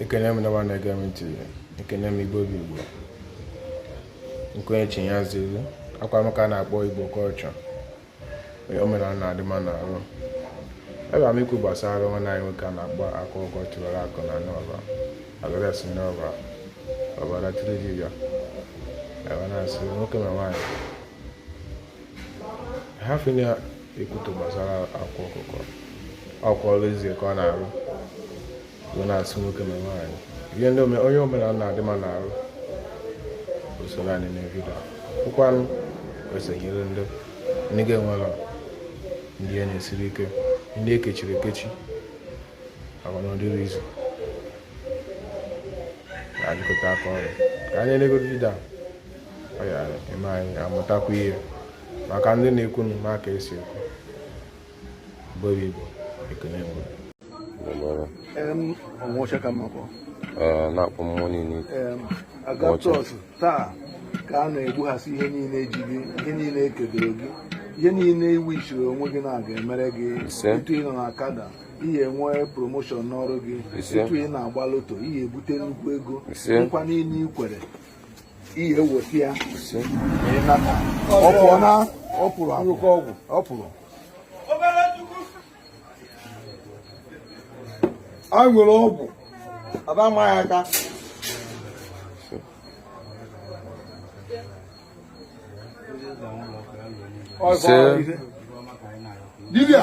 ekene m ụnụwa na-ege m ntị ekene m igbo bụ igbo nkwenye chi ya ziri akwa m ka a na-akpọ igbo culture Ee, omenala na-adị mma n'arụ abịa m ikwu gbasara nwanne anyị nwoke a na-akpọ Akwa Ọkụkọ Tiwara Akụ nọ n'Ọba adres n'ọba ọbara tiri dibịa wee na-asị nwoke na nwaanyị hafụnụ ikwutọ gbasara Akwa Ọkụkọ ọ kwa ọrụ ezi ka ọ na-arụ wee na-asị nwoke ma nwaanyị ihe ndị onye omenala na-adị mma n'arụ usoro anyị na vidio ọ kwanụ esonyere ndị ndị ga-enwere ndị ihe na-esiri ike ndị ekechiri ekechi agwanọdịrị izu na-ajụkọta aka ọrụ ka anyị na-elegoro vidio ọ ya-eme anyị amụtakwa ihe maka ndị na-ekwu nụ maka esi ekwu bụrụ igbo ekene mgbe na-akpọ mmụọ niile a gaa chọọchị taa ka a na-egbughasị ihe niile ji gị ihe niile ekedoro gị ihe niile iwu i chiri onwe gị na a ga-emere gị etu ị nọ n'akada ị ya-enwe promotion n'ọrụ gị etu ị na-agba loto ị ya-ebute nnukwu ego nkwa niile i kwere ị ya-eweta ya ọ pụọ na ọ pụrụ arụkọ ọgwụ ọ pụrụ a nwere ọgwụ ada ma ya aka dibia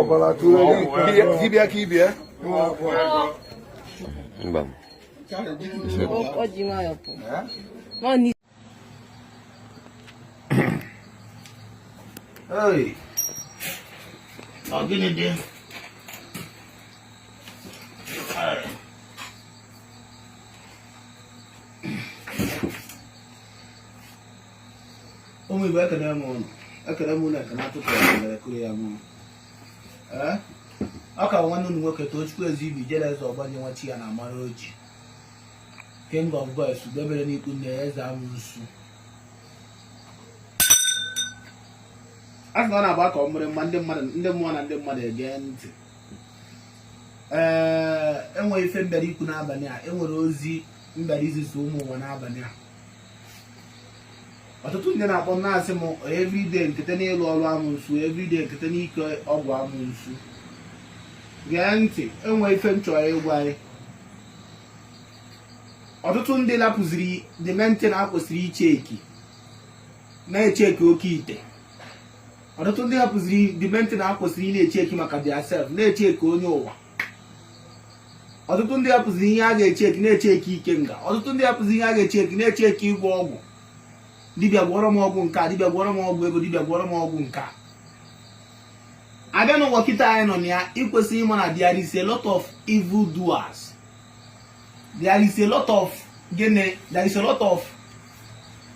ọbara tụrụ dibịa ka ibia mba Hey. Ọ gịnị dị? ụmụ igbo ekene m ụnụ ekene m ụnụ ekene atụtụ mere kụrụ ya mụ ọ kwa nwanne ụnụ nwoke Tochukwu Ezeibe Ijeleze Ọgbanje nwa chi ya na-amara ọjị king of boys ugo bere n'ikwu nne ya eze amosu a sị na ọ na-agba ka ọ mụrụ mma ndị mmụọ na ndị mmadụ ege ntị ee enwere m ife m bịara ikwu n'abalị a enwere ozi m bịara izizi ụmụ ụwa n'abalị a ọtụtụ ndị na-akpọ na-asị m everyday nkete n'ịlụ ọrụ amụnsu everyday nkete n'ike ọgwụ amụnsu gee ntị enwe ife m chọrọ ịgwa anyị ọtụtụ ndị lapụziri the main thing a kwesịrị icheki na-echeki oke ite ọtụtụ ndị hapụziri the main thing a kwesịrị ịna-echeki maka theirself na-echeki onye ụwa ọtụtụ ndị hapụzi ihe a ga-echeki na-echeki ikenga ọtụtụ ndị hapụzi ihe a ga-echeki na-echeki ịgwọ ọgwụ dibịa gwọrọ m ọgwụ nke a dibịa gwọrọ m ọgwụ ego dibịa gwọrọ m ọgwụ nke a abịa n'ụwa kịta anyị nọ na ya i kwesịrị ịma na there is a lot of evil doers there is a lot of gịnị there is a lot of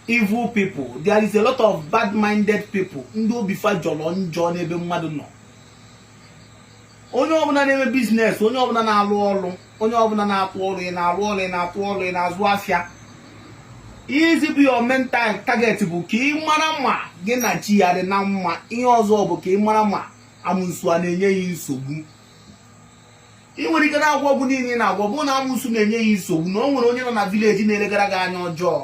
evil people there is a lot of bad minded people ndị obi fa jọrọ njọ n'ebe mmadụ nọ onye ọbụla na-eme biznes onye ọbụla na-alụ ọlụ onye ọbụla na-atụ ọlụ ị na-alụ ọlụ ị na-atụ ọlụ ị na-azụ afịa izi bụ your mental target bụ ka ị mara ma gị na chi gị dị na mma ihe ọzọ bụ ka ị mara ma amụnsu a na-enye gị nsogbu ị nwere ike na-agwọ ọgwụ niile ị na-agwọ bụ na amụnsu na-enye gị nsogbu na o nwere onye nọ na village na-elegara gị anya ọjọọ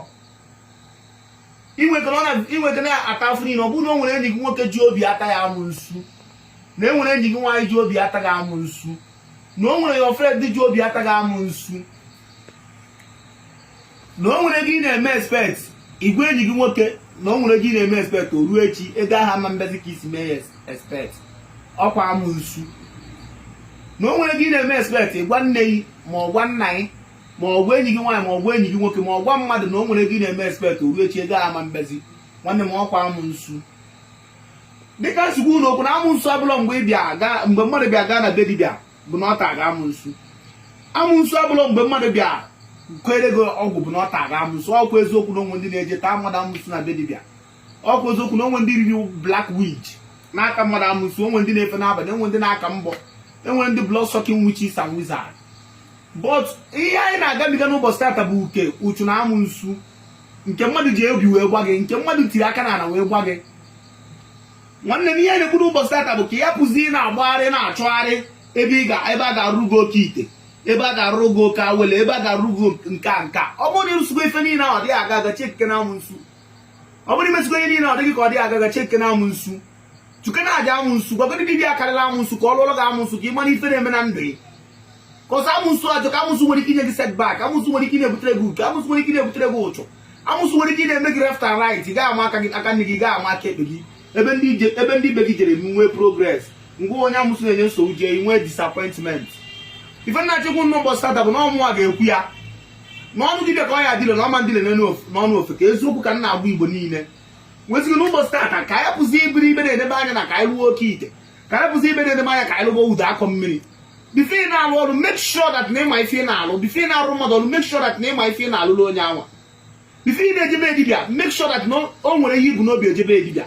ị nwere ike na-ata afụ niile ọ bụrụ na o nwere enyi gị nwoke ji obi ata gị amụnsu na o nwere enyi gị nwaanyị ji obi ata gị amụnsu na o nwere your friend ji obi ata gị amụnsu na o nwere ego ị na-eme expect ị gwa enyi gị nwoke na o nwere ego ị na-eme expect o ruo echi ego ahụ ama mbịazi ka i si mee ya expect ọkwa amụnsu na o nwere ego ị na-eme expect ị gwa nne gị ma ọ gwa nna gị ma ọ gwa enyi gị nwaanyị ma ọ gwa enyi gị nwoke ma ọ gwa mmadụ na o nwere ego ị na-eme expect o ruo echi ego ama mbịazi nwanne m ọkwa amụnsu dịka m si agwa unu okwu na amụnsu abụrọ mgbe ịbịa mgbe mmadụ bịa gaa na be dibịa bụ na ọ tara gị amụnsu amụnsu abụrọ mgbe mmadụ bịa keere gị ọgwụ bụ na ọ tara gị amụnsu ọkwa eziokwu na o nwe ndị na-eje taa mmadụ amụnsu na be dibịa ọkwa eziokwu na o nwe ndị riri black witch na-ata mmadụ amụnsu o nwe ndị na-efe n'abalị o nwe ndị na-aka mbọ e nwe ndị blood sucking witches and wizards but ihe anyị na-agabiga n'ụbọchị tata bụ uke ụchụ na amụnsu nke mmadụ ji obi wee gwa gị nke mmadụ tiri aka n'ala wee gwa gị nwanne m ihe anyị na-ekwu n'ụbọchị tata bụ ka ị hapụzi ịna-agbagharị na-achọgharị ebe ị ga ebe a ga-arụ gị oke ite ebe a ga-arụ gị oke awele ebe a ga-arụ gị nke a nke a ọ bụrụ na ị rụsịgo ife niile ahụ ọ dịghị aga aga chekene amụnsu ọ bụrụ i mesigo ihe niile ọ dị gị ka ọ dịghị aga aga chekene amụnsu chụkene aja amụnsu gwagodi dibịa karịrị amụnsu ka ọ lụọlụ gị amụnsu ka ị mara ife na-eme na ndụ gị cos amụnsu ajọka amụnsu nwere ike inye gị setback amụnsu nwere ike na-ebutere gị uke amụnsu nwere ike na-ebutere gị ụchụ amụnsu nwere ike na-eme gị left and right ị ga-ama aka gị aka nni gị ga-ama aka ekpe gị ebe ndị ije- ebe ndị ibe gị jere nwee progress ngwa onye amụnsu na-enye nsogbu jee nwee disappointment ife m na-achọ ikwu n'ụbọchị tata bụ na ọ mụwa ga-ekwu ya n'ọnụ dibịa ka ọ ya dile na ọ ma ndile n'ọnụ ofeke eziokwu ka m na-agwa igbo niile nwezighi na ụbọchị tata ka anyị pụzi iberibe na-edebe anya na ka anyị lụọ oke ite ka anyị pụzi ibe na-edebe anya ka anyị lụọ udu akọ mmiri before ị na-alụ ọrụ make sure that na ị ma ife ị na-alụ before ị na-arụ mmadụ ọrụ make sure that na ị ma ife ị na-alụrụ onye anwa before ị na-eje be dibịa make sure that na o nwere ihe i bu n'obi eje be dibịa